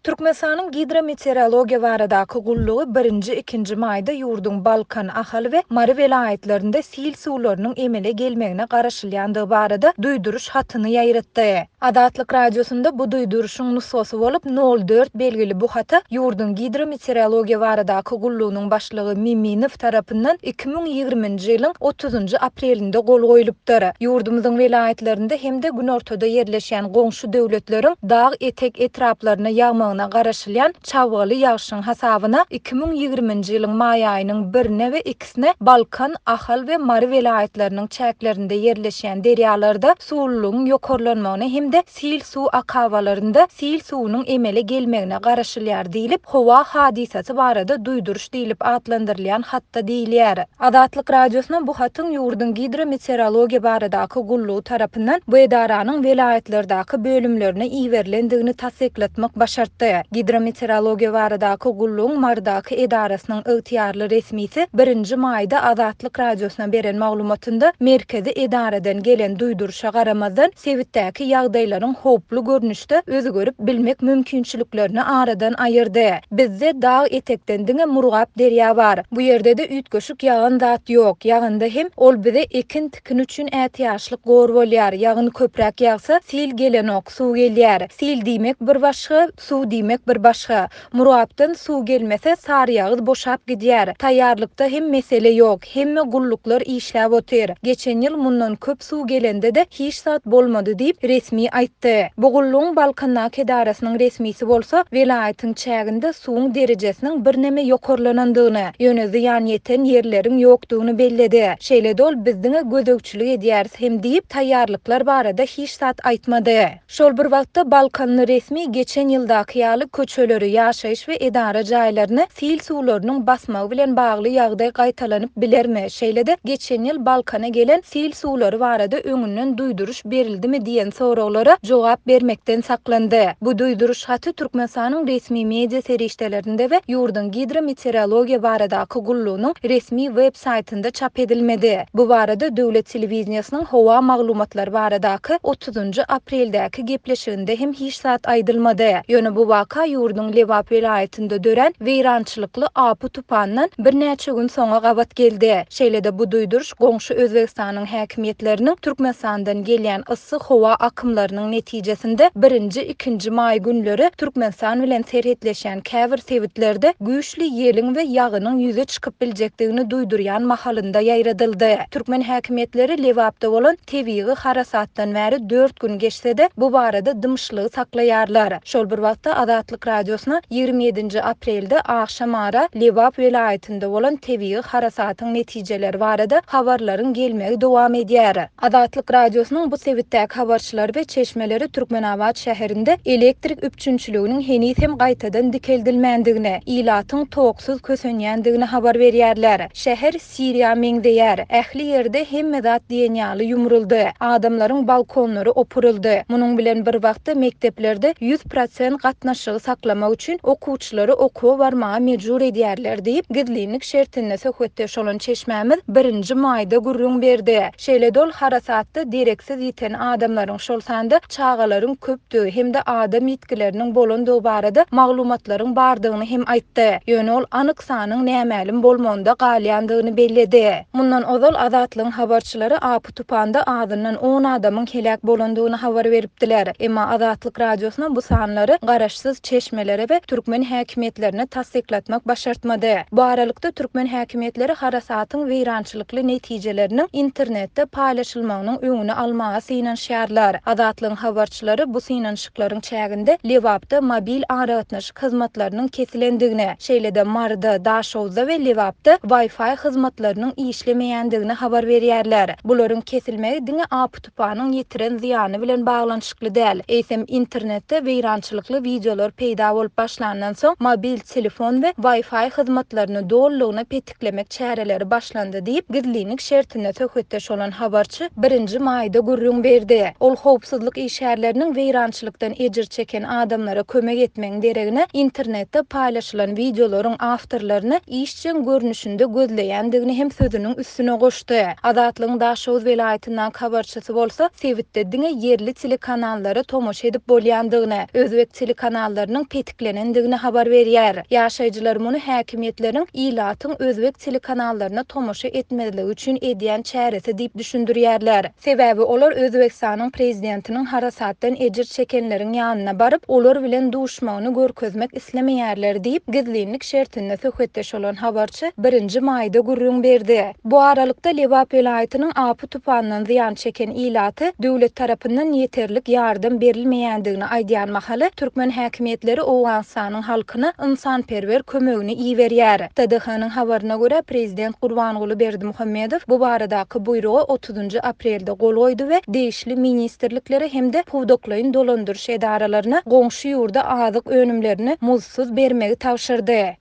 Türkmenistanyň Gidrometeorologiýa baradaky gullugy birinji, ikinji maýda ýurduň Balkan, Ahal we Mary welaýatlarynda sil suwlarynyň emele gelmegine garaşylýandygy barada duýduryş hatyny ýaýratdy. Azatlyk Radiosynda bu duýduryşyň nusgasy bolup, nol dört belgili bu hata ýurduň Gidrometeorologiýa baradaky gullugynyň başlygy Miminow tarapyndan iki müň ýigriminji ýylyň otuzynjy aprelinde gol goýlupdyr. Ýurdumyzyň welaýatlarynda hem-de günortada ýerleşýän goňşy goňşy döwletleriň dag etek etraplaryna ýagmagyna garaşylýan çabgaly ýagşyň hasabyna iki müň ýigriminji ýylyň maý aýynyň birine we ikisine Balkan, Ahal we Mary welaýatlarynyň çäklerinde ýerleşýän derýalarda suwlulygyň ýokarlanmagyna hem-de sil suw akabalarynda sil suwunyň emele gelmegine garaşylýar diýlip, howa hadysasy barada duýduryş diýlip atlandyrylýan hatda diýilýär. Azatlyk Radiosyna bu hatyň ýurduň Gidrometeorologiýa baradaky gullugy tarapyndan bu edaranyň welaýatlardaky bölümlerine iberilendigini tassyklatmak başartdy. Gidrometeorologiýa baradaky gullugyň Marydaky edarasynyň ygtyýarly resmisi birinji maýda Azatlyk Radiosyna beren maglumatynda merkezi edaradan gelen duýduryşa garamazdan, sebitdäki ýagdaýlaryň howply görnüşde özgerip bilmek mümkinçiliklerini aradan aýyrdy. Bizde dag etekden diňe Murgap derýa bar. Bu ýerde-de üýtgeşik ýagan zat ýok. Ýaganda hem, ol bize ekin-tikin üçin ätiýaçlyk gor bolýar. Ýagyn köpräk ýagsa, sil gelenok, suw gelýär. Sil diýmek bir başga, suw diýmek bir başga. Murapdan suw gelmese, Saryýagyz boşap gidýär. Taýýarlykda hem mesele ýok. Hemme gulluklar işläp otyr. Geçen ýyl mundan köp suw gelende-de hiç zat bolmady diýip, resmi aýtdy. Bu gullugyň Balkandaky edarasynyň resmisi bolsa, welaýatyň çäginde suwuň derejesiniň birneme ýokarlanandygyny, ýöne zyýan ýeten ýerleriň ýokdugyny belledi. Şeýle-de ol, Biz diňe gözegçilik edýäris hem diýip, taýýarlyklar barada hiç zat aýtmady. Şol bir wagtda, balkanly resmi geçen ýyldaky ýaly köçeleri, ýaşaýyş we edara jaýlaryny sil suwlarynyň basmagy bilen bagly ýagdaý gaýtalanyp bilermi, şeýle-de geçen ýyl Balkana gelen sil suwlary barada öňünden duýduryş berildimi diýen soraglara jogap bermekden saklandy. Bu duýduryş haty Türkmenistanyň resmi media serişdelerinde we ýurduň Gidrometeorologiýa baradaky gullugynyň resmi web saýtynda çap edilmedi. Bu barada döwlet telewideniýesiniň howa maglumatlary baradaky otuzynjy apreldäki gepleşiginde hem hiç zat aýdylmady. Ýöne bu waka ýurduň Lebap welaýatynda dörän weýrançylykly apy-tupandan birnäçe gün soňa gabat geldi. Şeýle-de bu duýduryş goňşy Özbegistanyň häkimiýetleriniň Türkmenistandan gelýän yssy howa akymlarynyň netijesinde birinji, ikinji maý günleri Türkmenistan bilen serhetleşýän käbir sebitlerde güýçli ýeliň we ýagynyň ýüze çykyp biljekdigini duýdurýan mahalynda ýaýradyldy. Türkmen häkimiýetleri Lebapda bolan Tebigy harasatdan bäri dört gün geçse-de, bu barada dymyşlygy saklaýarlar. Şol bir wagtda, Azatlyk Radiosyna ýigrimi ýedinji aprelde agşam ara Lebap welaýatynda bolan tebigy harasatyň netijeleri barada habarlaryň gelmegi dowam edýär. Azatlyk Radiosynyň bu sebitdäki habarçylary we çeşmeleri Türkmenabat şäherinde elektrik üpjünçiliginiň heniz hem gaýtadan dikeldilmändigini, ilatyň toksuz kösenýändigini habar berýärler. Şäher. Siriýa meňzeýär. Ähli ýerde hemme zat diýen ýaly ýumruldy. Adamlaryň balkonlary opuryldy. Munuň bilen bir wagtda mekdeplerde ýüz prosent gatnaşygy saklamak üçin okuwçylary okuwa barmaga mejbur edýärler diýip, gizlinlik şertinde söhbetdeş bolan çeşmämiz Birinji Maýda gürrüň berdi. Şeýle-de ol harasatda dereksiz ýiten adamlaryň, şol sanda çagalaryň köpdügi hem-de adam ýitgileriniň bolandygy barada maglumatlaryň bardygyny hem aýtdy, ýöne ol anyk sanyň nämälim bolmagynda galýandygyny belledi. Mundan ozal Azatlygyň habarçylary apy-tupanda azyndan on adamyň heläk bolandygyny habar beripdiler. Emma Azatlyk Radiosyna bu sanlary garaşsyz çeşmelere we türkmen häkimiýetlerine tassyklatmak başartmady. Bu aralykda, türkmen häkimiýetleri harasatyň weýrançylykly Tygşytly netijeleriniň internetde paýlaşylmagynyň öňüni almaga synanyşýarlar. Azatlygyň habarçylary bu synanyşyklaryň çäginde Lebapda mobil aragatnaşyk hyzmatlarynyň kesilendigini, şeýle-de Maryda, Daşoguzda we Lebapda Wi-Fi hyzmatlarynyň işlemeýändigini habar berýärler. Bularyň kesilmegi diňe APT. Spanyň ýetiren zyýany bilen baglanyşykly däl, eýsem internetde weýrançylykly wideolar peýda bolup başlandan soň, mobil telefon we Wi-Fi hyzmatlaryny dolulygyna petiklemek çäreleri başlandy diýip, gizlinlik şertinde söhbetdeş bolan habarçy birinji maýda gürrüň berdi. Ol howpsuzlyk işgärleriniň weýrançylykdan ejir çeken adamlara kömek etmegiň deregine, internetde paýlaşylan wideolaryň awtorlaryny iş, işjeň görnüşinde gözleýändigini hem sözüniň üstüne goşdy. Azatlygyň Daşoguz welaýatyndan habarçysy bolsa, sebitde diňe ýerli telekanallara tomaşa edip bolýandygyny, özbek telekanallarynyň petiklenendigini habar berýär. Ýaşaýjylar muny häkimiýetleriň ilatyň özbek telekanallaryna tomaşa etmezligi üçin edýän çäresi diýip düşündirýärler. Sebäbi olar Özbegistanyň prezidentiniň harasatdan ejir çekenleriň ýanyna baryp, olar bilen duşmagyny görkezmek islemeýärler diýip, gizlinlik şertinde söhbetdeş bolan habarçy birinji maýda gürrüň berdi. Bu aralykda, Lebap welaýatynyň apy-tupandan zyýan çeken ilaty döwlet tarapyndan ýeterlik ýardam berilmeýändigini aýdýan mahaly, türkmen häkimiýetleri Owganystanyň halkyna ynsanperwer kömegini iberýär. TDH-nyň habaryna görä, prezident Gurbanguly Berdimuhamedow bu baradaky buýruga otuzynjy aprelde gol goýdy we degişli ministrliklere hem-de pudaklaýyn dolandyryş edaralaryna goňşy ýurda azyk önümlerini muzdsuz bermegi tabşyrdy.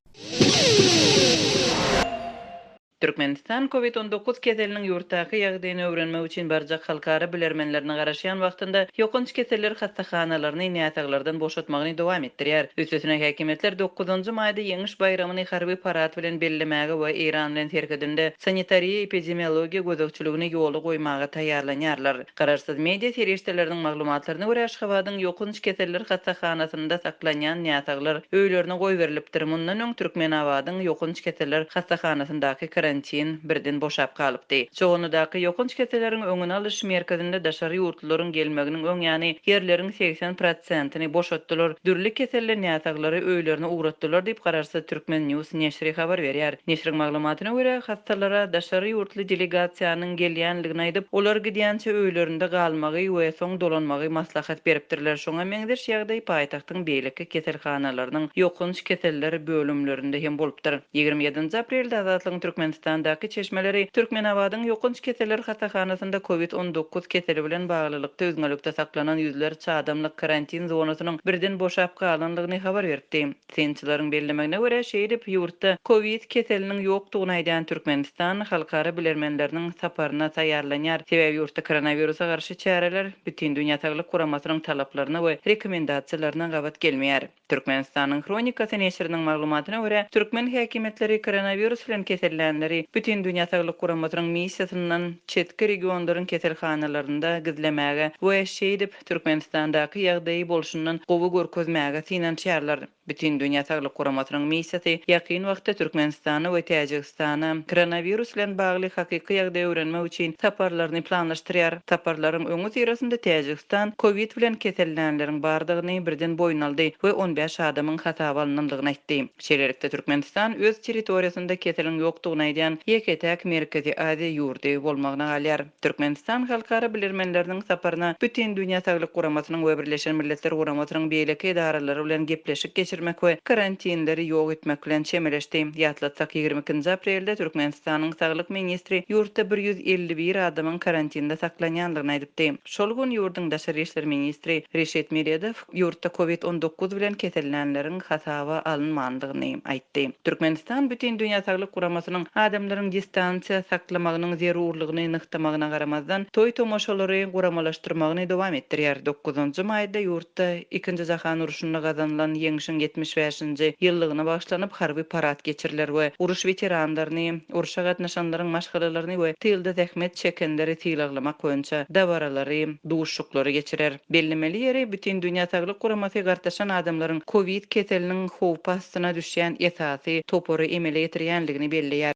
Türkmenistan Covid on dokuz keseliniň ýurtdaky ýagdaýyny öwrenmek üçin barjak halkara bilermenlerini garaşýan wagtynda ýokanç keseller hassahanalaryny näsaglardan boşatmagyny dowam etdirýär. Üstesine häkimiýetler dokuzynjy maýda Ýeňiş Nowruz baýramyny harby parad bilen bellemäge we Eýran bilen serhedinde sanitariýa-epidemiologiýa gözegçiligini ýola goýmaga taýýarlanýarlar. Garaşsyz media serişdeleriniň maglumatlaryna görä, Aşgabadyň ýokanç keseller hassahanasynda saklanýan näsaglar öýlerine goýberilipdir. Mundan öň Türkmenabadyň ýokanç keseller hassahanasyndaky karantin birden boşap galypdy. Çoganlydaky ýokanç keselleriň öňüni alyş merkezinde daşary ýurtly Bularyň gelmeginiň öň ýany ýerleriň segsen prosentini boşatdylar, dürli keselle näsaglary öýlerine ugratdylar diýip, Garaşsyz Türkmen news neşri habar berýär. Neşriň maglumatyna görä, hassalara daşary ýurtly delegasiýanyň gelýändigini aýdyp, olar gidýänçä öýlerinde galmagy we soň dolanmagy maslahat beripdirler. Şoňa meňzeş ýagdaý paýtagtda. welaýatyň beýleki keselhanalarynyň ýokanç keseller bölümlerinde hem bolupdyr. Ýigrimi ýedinji aprelde Azatlygyň Türkmenistandaky çeşmeleri Türkmenabadyň ýokanç keseller hasahanasynda Covid on dokuz keseli bilen baglylykda üzňelikde saklanan ýüzlerçe adamlyk karantin zonasynyň birden boşap galanlygyny habar beripdi. Synçylaryň bellemegine görä, şeýdip, ýurtda Covid keseliniň ýokdugyny aýdan Türkmenistan halkara bilermenleriniň saparyna taýýarlanýar, sebäbi ýurtda koronawirusa garşy çäreler, Bütindünýä saglyk guramasynyň talaplaryna we rekomendasiýalaryna gabat gelmeýär. Türkmenistanyň hronikasy neşiriniň maglumatyna görä, türkmen häkimiýetleri koronawirus bilen kesellänleri Bütindünýä saglyk guramasynyň missiýasyndan çetki regionlaryň keselhanalarynda gizlemäge we şeýdip Türkmenistandaky ýagdaýy bolşundan gowy görkezmäge synanyşýarlar. Bütindünýä saglyk guramasynyň missiýasy ýakyn wagtda Türkmenistana we Täjigistana koronawirus bilen bagly hakyky ýagdaýy öwrenmek üçin saparlaryny planlaşdyrýar. Saparlaryň öňüsyrasynda Täjigistan covid bilen kesellänleriň bardygyny birden boýun aldy we on bäş adamyň hasaba alnandygyny aýtdy. Şeýlelikde, Türkmenistan öz territoriýasynda keseliň ýokdugyny aýdýan ýeke-täk Merkezi Aziýa ýurdy bolmagyna galýar. Türkmenistan halkara bilermenleriniň saparyna Bütindünýä saglyk guramasynyň we Birleşen Milletler Guramasynyň beýleki edaralary bilen gepleşik geçirmek we karantinleri ýok etmek bilen çemeleşdi. Ýatlatsak, ýigrimi ikinji aprelde Türkmenistanyň saglyk ministri ýurtda bir ýüz elli bir adamyň karantinde saklanýandygyny aýdypdy. Şol gün ýurduň daşary işler ministri Reşit Meredow, ýurtda Covid on dokuz bilen kesellänleriň hasaba alynmandygyny aýtdy. Türkmenistan Bütin dünýä saglyk guramasynyň adamlaryň distansiýa saklamagynyň zerurlygyny nygtamagyna garamazdan, toý-tomaşalary guramalaşdyrmagyny dowam etdirýär. Dokuzynjy maýda ýurtda Ikinji jahan urşunda gazanylan ýeňşiň ýetmiş bäşinji ýyllygyna bagyşlanyp harby parad geçiriler we uruş weteranlaryny, urşa gatnaşanlaryň maşgalalaryny we tylda zähmet çekenleri sylaglamak boýunça dabaralary, duşuşyklary geçirer. Bellemeli ýeri, Bütindünýä Saglyk Guramasy gartaşan adamlaryň kowid keseliniň howpy astyna düşýän esasy topary emele getirýändigini belleýär.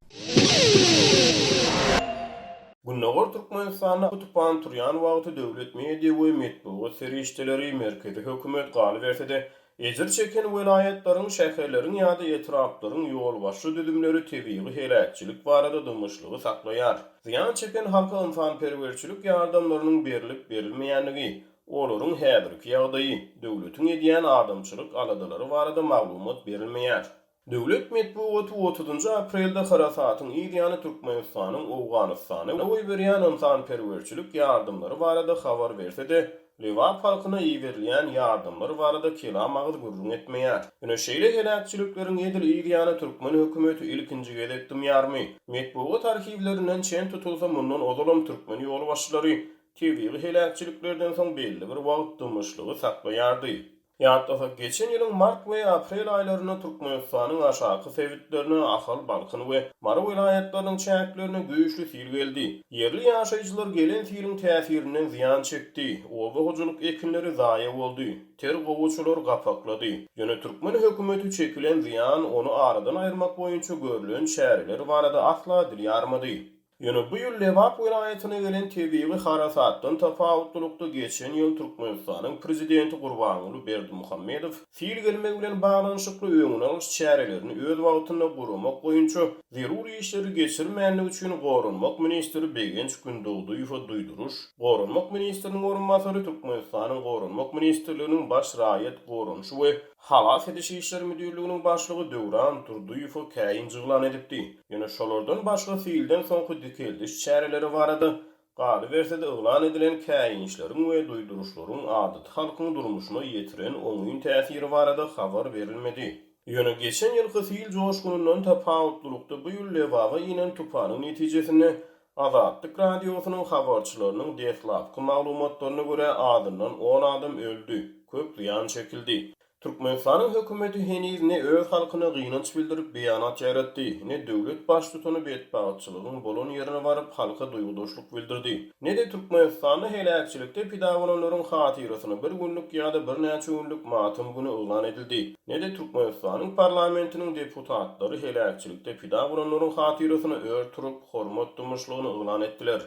Gündogar Türkmenistanda tupan turýan wagty döwlet media we metbugat serişdeleri merkezi hökümet galyberse-de, Ejir çeken welaýatlaryň, şäherleriň ýa-da etraplaryň ýolbaşçy düzümleri tebigy heläkçilik barada dymyşlygy saklaýar. Zyýan çeken halka ynsanperwerçilik ýardamlarynyň berlip-berilmeýänligi, olaryň häzirki ýagdaýy, döwletiň edýän adamçylyk aladalary barada maglumat berilmeýär. Döwlet metbugaty otuzynjy aprelde harasatyň yz ýany Türkmenistanyň Owganystana goýberýän ynsanperwerçilik ýardamlary barada habar berse-de, Lebap halkyna iberilýän ýardamlar barada kelam agyz gürrüň etmeýär. Ine, şeýle heläkçilikleriň edil yz ýany türkmen hökümeti ilkinji gezek dymýarmy? Metbugat arhiwlerinden çen tutulsa, mundan ozalam türkmen ýolbaşçylary tebigy heläkçiliklerden soň belli bir wagt dymyşlygy saklaýardy. Ýatlasak, geçen ýylyň mart we aprel aýlarynda Türkmenistanyň aşaky sebitlerine, Ahal, Balkan we Mary welaýatlarynyň çäklerine güýçli sil geldi. Ýerli ýaşaýjylar gelen siliň täsirinden zyýan çekdi. Oba hojalyk ekinleri zaýa boldy. Ter gowaçalar gapaklady. Ýöne türkmen hökümeti çekilen zyýan, ony aradan aýyrmak boýunça görlen çäreler barada asla dil ýarmady. Ýöne bu ýyl Lebap welaýatyna gelen tebigy harasatdan tapawutlylykda geçen ýyl Türkmenistanyň Prezidenti Gurbanguly Berdimuhamedow sil gelmegi bilen baglanyşykly öňüni alyş çärelerini öz wagtynda guramak boýunça zerur işleri geçirmändigi üçin Goranmak ministri Begenç Gündogdyýewe duýduryş Goranmak ministriniň orunbasary Türkmenistanyň Goranmak ministrliginiň Baş raýat goranyşy we Halas ediş işleri müdirliginiň başlygy Döwran Durdyýewe käýinç yglan edipdi. Ýöne şolardan başga silden soňky dikeldiş çäreleri barada, galyberse-de yglan edilen käýinçleriň we duýduryşlaryň adaty halkyň durmuşyna ýetiren oňyn täsiri barada habar berilmedi. Ýöne geçen ýylky sil joşgunyndan tapawutlylykda bu ýyl Lebaba inen tupanyň netijesinde Azatlyk Radiosynyň habarçylarynyň deslapky maglumatlaryna görä, azyndan on adam öldi, köp zyýan çekildi. Türkmenistanyň hökümeti heniz ne öz halkyna gynanç bildirip beýanat ýaýratdy, ne döwlet baştutany betbagtçylygyň bolan ýerine baryp halka duýgudaşlyk bildirdi, ne-de Türkmenistanda heläkçilikde pida bolanlaryň hatyrasyna bir günlük ýa-da birnäçe günlük matam güni yglan edildi. ne-de Türkmenistanyň parlamentiniň deputatlary heläkçilikde pida bolanlaryň hatyrasyna ör turup, hormat dymyşlygyny yglan etdiler.